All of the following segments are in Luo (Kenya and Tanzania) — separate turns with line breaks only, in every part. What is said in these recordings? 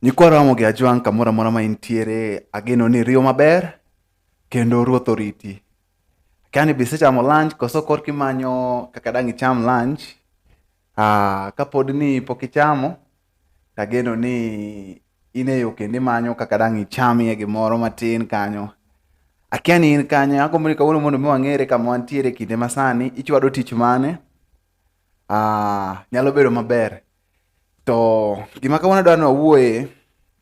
Nyikwa Ramogi Ajwang' kamoro amora ma intiere, ageno ni iriyo maber kendo ruoth oriti. Akia ni be isechamo lunch koso korka imanyo kaka dang' icham lunch. Ah, kapod ni pok ichamo, tageno ni in e yo kendo imanyo kaka dang' ichamie gimoro matin kanyo. Akia ni in kanye, agombo ni kawuono mondo mi wang'ere kama wantiere e kinde masani, ichwado tich mane? Ah, nyalo bedo maber. To gima kawuono adwa ni wawuoye,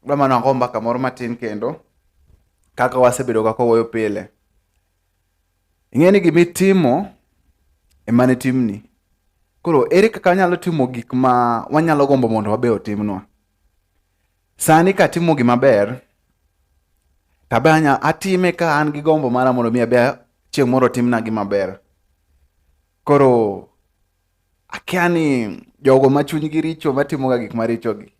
adwa mana wago mbaka moro matin kendo kaka wasebedo kaka wawuoyo pile. Ing'e ni gima itimo ema ne timni. Koro ere kaka wanyalo timo gik ma wanyalo gombo mondo wabe otimnwa? Sani katimo gima ber to abe anya atime ka an gi gombo mara mondo mi abe chieng' moro timna gima ber. Koro akia ni jogo ma chunygi richo matimoga gik marichogi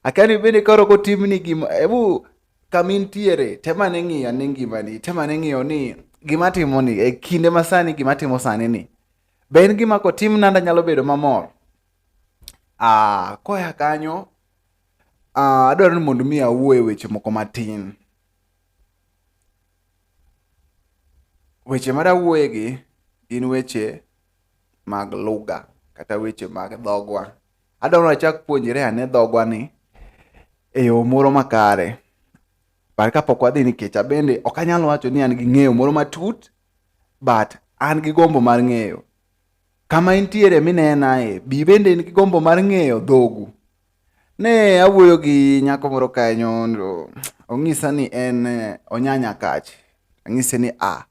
akia ni bende koro kotimni gima ebu kama intiere tem ane ng'iyo ane ngimani tem ane ng'iyo ni gima timoni e kinde masani gima timo sani ni be en gima kotimna ndanyalo bedo mamor Ah, koya kanyo ah, adwaro ni mondo mi awuo e weche moko matin. Weche ma dawuoyegi gin weche mag lugha kata weche mag dhogwa. Adwaro ni wachak puonjre ane dhogwa ni e yo moro makare. But kapok wadhi nikech abende ok anyal wacho ni an gi ng'eyo moro matut but an gi gombo mar ng'eyo. kama intiere minenae, bi bende in gi gombo mar ng'eyo dhogu. Ne awuoyo gi nyako moro kanyo, ong'isa ni en eh, onyanya kach. Ang'ise ni a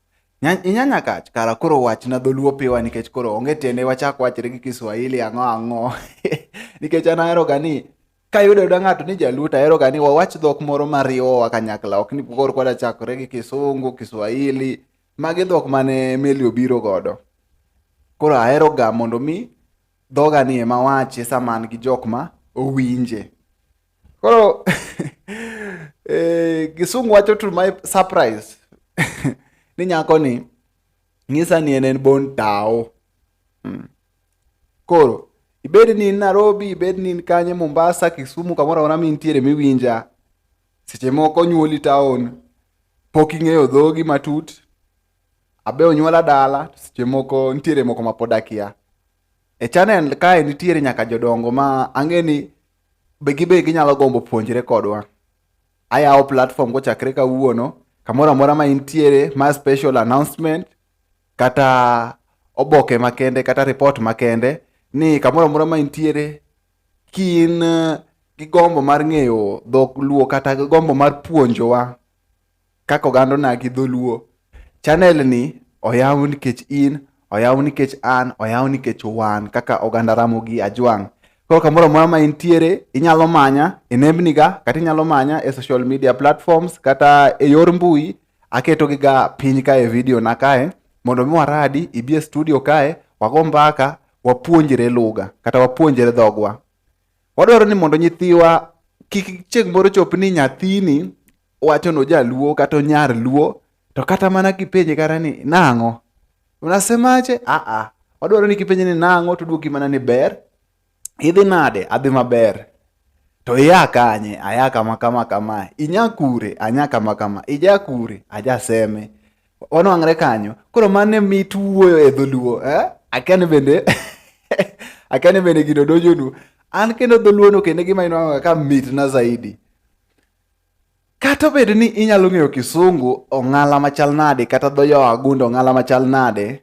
inyanya kach kara koro wachna dholuo piwa nikech koro onge tiende wachak wachre gi Kiswahili ang'o ang'o nikech an aheroga ni kayudo yuda ng'ato ni jaluo to aheroga ni wawach dhok moro mariwowa kanyakla ok ni koro kwadachakore gi Kisungu, Kiswahili Magi dhok mane meli obiro godo. Koro ahero ga mondo mi dhoga ni ema wache sama an gi jok ma owinje. Koro eh, Gisungu wacho to my surprise ni nyako ni ng'isa ni en en bon tawo. Hmm. Koro ibed ni in Nairobi, ibed ni in kanye Mombasa, Kisumu kamoro amora mintiere miwinja, seche moko nyuoli taon. pok ing'eyo dhogi matut abe onyuola dala seche moko nitiere moko ma pod akia e channel kae nitiere nyaka jodongo ma ang'e ni be gibe ginyalo gombo puonjre kodwa ayawo platform kochakre kawuono kamoro amora ma intiere ma special announcement kata oboke makende kata report makende ni kamoro amora ma intiere kin eh, gi gombo mar ng'eyo dhok luo kata gi gombo mar puonjowa kaka oganda onagi dholuo, chanel ni oyaw nikech in, oyaw nikech an, oyaw nikech wan kaka oganda Ramogi Ajwang'. Koro kamoro amora ma intiere, inyalo manya e nembniga kata inyalo manya e social media platforms kata e yor mbui aketogiga piny kae e video na kae mondo mi waradi ibi e studio kae wago mbaka wapuonjre lugha kata wapuonjre dhogwa. Wadwaro ni mondo nyithiwa kik chieng' moro chop ni nyathini wacho ni ojaluo kata onyar luo to kata mana kipenje kata ni nang'o unasemaje aa wadwaro ni kipenje ni nang'o to dwoki mana ni ber idhi nade adhi maber to iya kanye aya kama kama kama inya kure anya kama kama ija kure ajaseme wanwang're kanyo koro mane mit wuoyo e dholuo eh? akane bende akane bende gino dojonu an kendo dholuono kendo gima inwang'oga ka mitna zaidi kata obedo ni inyalo ng'eyo kisungu ong'ala machal nade kata dho yo agundo ong'ala machal nade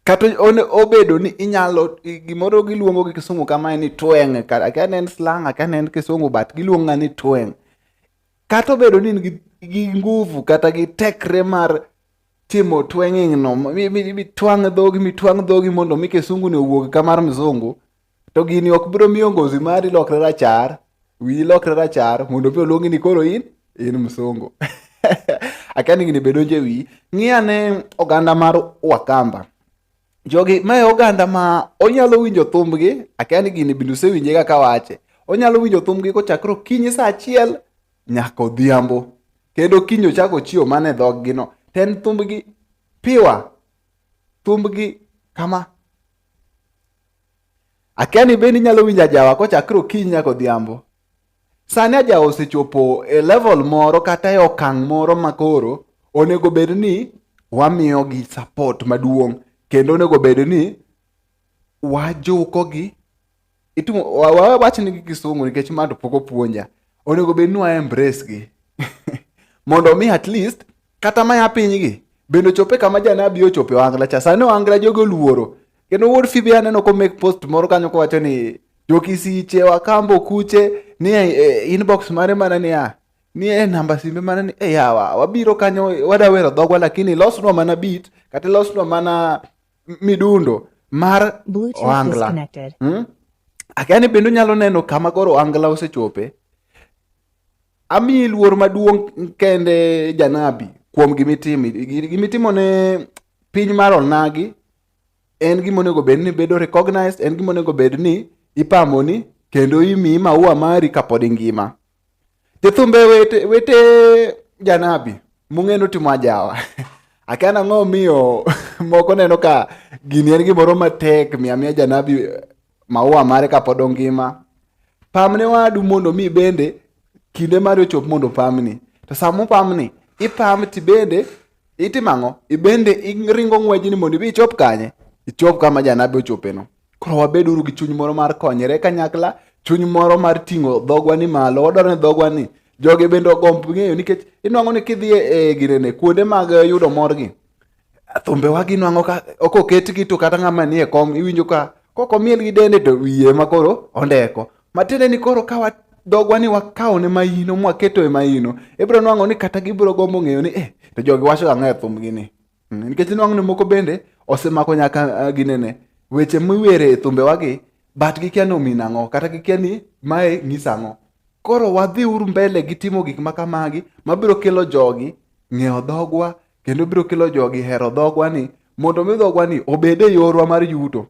kata obedo ni inyalo gimoro giluongo gi kisungu kamae ni tweng' akia ne en slang akia ne en kisungu but giluonga ni tweng' Kata obedo ni in gi, gi nguvu kata gi tekre mar timo tweng'ing no mitwang' dhogi mitwang' dhogi mondo mi kisungu ni owuog ka mar mzungu to gini ok biro miyo ngozi mari lokre rachar wiyi lokre rachar mondo mi oluongi ni koro in in mzungu akia ni gini be donjo e wiyi ng'i ane oganda mar wakamba Jogi mae oganda ma onyalo winjo thumbgi, akia ni gini bende usewinje ga kawache. Onyalo winjo thumbgi kochakre okinyi sa achiel nyaka odhiambo. Kendo okinyi ochako ochiew mana e dhoggi no. To en thumbgi piwa, thumbgi kama. Akia ni bende inyalo winjo ajawa kochakre okinyi nyaka odhiambo. Sani aja osechopo e level moro kata e okang' moro ma koro onego bed ni wamiyogi support maduong' kendo onego bed ni wajukogi itimo wawachni gi kisungu nikech ma to pok opuonja onego bed ni wa embrace gi mondo mi at least Kata ma ya pinygi bende ochope kama janabi ochope wangla cha. Sani wangla jogo luoro. Kendo wuod Fibi aneno ko make post moro kanyo kowacho ni jokisiche wakambo kuche ni e, e, inbox mare mana ni a ni e namba simbe mana ni e yawa wabiro kanyo wadawero dhogwa lakini losnwa mana beat kata losnwa mana midundo mar ohangla hmm? akia ni bende unyalo neno kama koro ohangla osechope amiyi luor maduong' kende janabi kuom gimitimo gimitimo ne piny mar onagi en gima onego bed ni bedo recognized en gima onego bed ni ipamoni kendo imiyi maua mari kapod ingima Jothumbe wete, wete janabi mung'e notimo ajawa akia nang'o miyo moko neno ka gini en gimoro matek miya miya janabi maua mare kapod ongima pamne wadu mondo mi bende kinde mari ochop mondo pamni to sama opamni ipam ti bende itimo ang'o ibende iringo ng'wejni mondo ibi ichop kanye ichop kama janabi ochopeno Koro wabeduru gi chuny moro mar konyere kanyakla, chuny moro mar ting'o dhogwa ni malo. Wadwaro ni dhogwa ni jogi bende ogomb ng'eyo nikech inwang'o ni kidhi e, e girene kuonde mag e, yudo morgi thumbewa ginwang'o ka ok oketgi to kata ng'ama nie kom iwinjo ka kok omiel gi dende to wiye ma koro ondeko matiende ni koro ka dhogwa ni wakawo ne mahino mwaketo e mahino ibiro nwang'o ni kata gibiro gombo ng'eyo ni eh to jogi wacho ang'o e thumbgi ni Mm, nikech inwang'o ni moko bende osemako nyaka ah, ginene weche miwere e thumbewagi but gikia ni omin ang'o kata gikia ni mae ng'is ang'o koro wadhi uru mbele gi timo gik ma kamagi mabiro kelo jogi ng'eyo dhogwa kendo biro kelo jogi hero dhogwa ni mondo mi dhogwa ni obed e yorwa mar yuto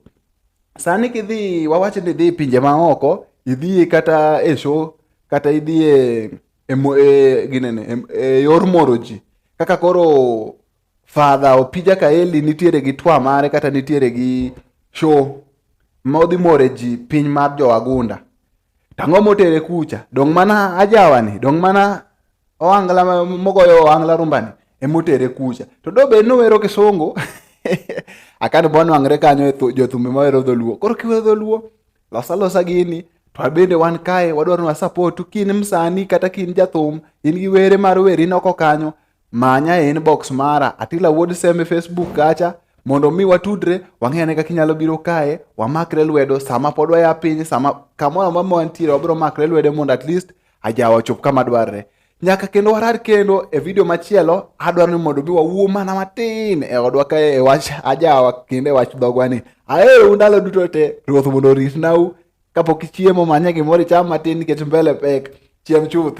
sani kidhi wawachi ni idhi pinje maoko idhi kata e show kata idhi e e, e, ginene e, e yor moro ji kaka koro fadha opija kaeli nitiere gi twa mare kata nitiere gi show ma odhi more ji piny mar jowagunda tang'o motere kucha dong' mana ajawani dong' mana oangla mogoyo oangla rumbani emotere kucha to do bed nowero kisungu akani bonwang're kanyo e jothumbe mawero dholuo koro kiwero dholuo losa losa gini to abende wan kae wadwaro na support kin msani kata kin jathum in gi were mar weri noko kanyo manya e inbox mara atila wuod seme facebook kacha mondo mi watudre wang'e ane kaka inyalo biro kae wamakre lwedo sama pod waya piny sama kamoro amora ma wantiere wabiro makre lwedo mondo at least ajawa ochop kama dwarre Nyaka kendo warar kendo e video machielo, adwaro ni mondo mi wawuo mana matin e odwa ka e wach ajawa kendo e wach dhogwa ni. Aero ndalo duto te, Ruoth mondo oritnau kapok ichiemo manye gimoro icham matin nikech mbele pek. Chiem chuth.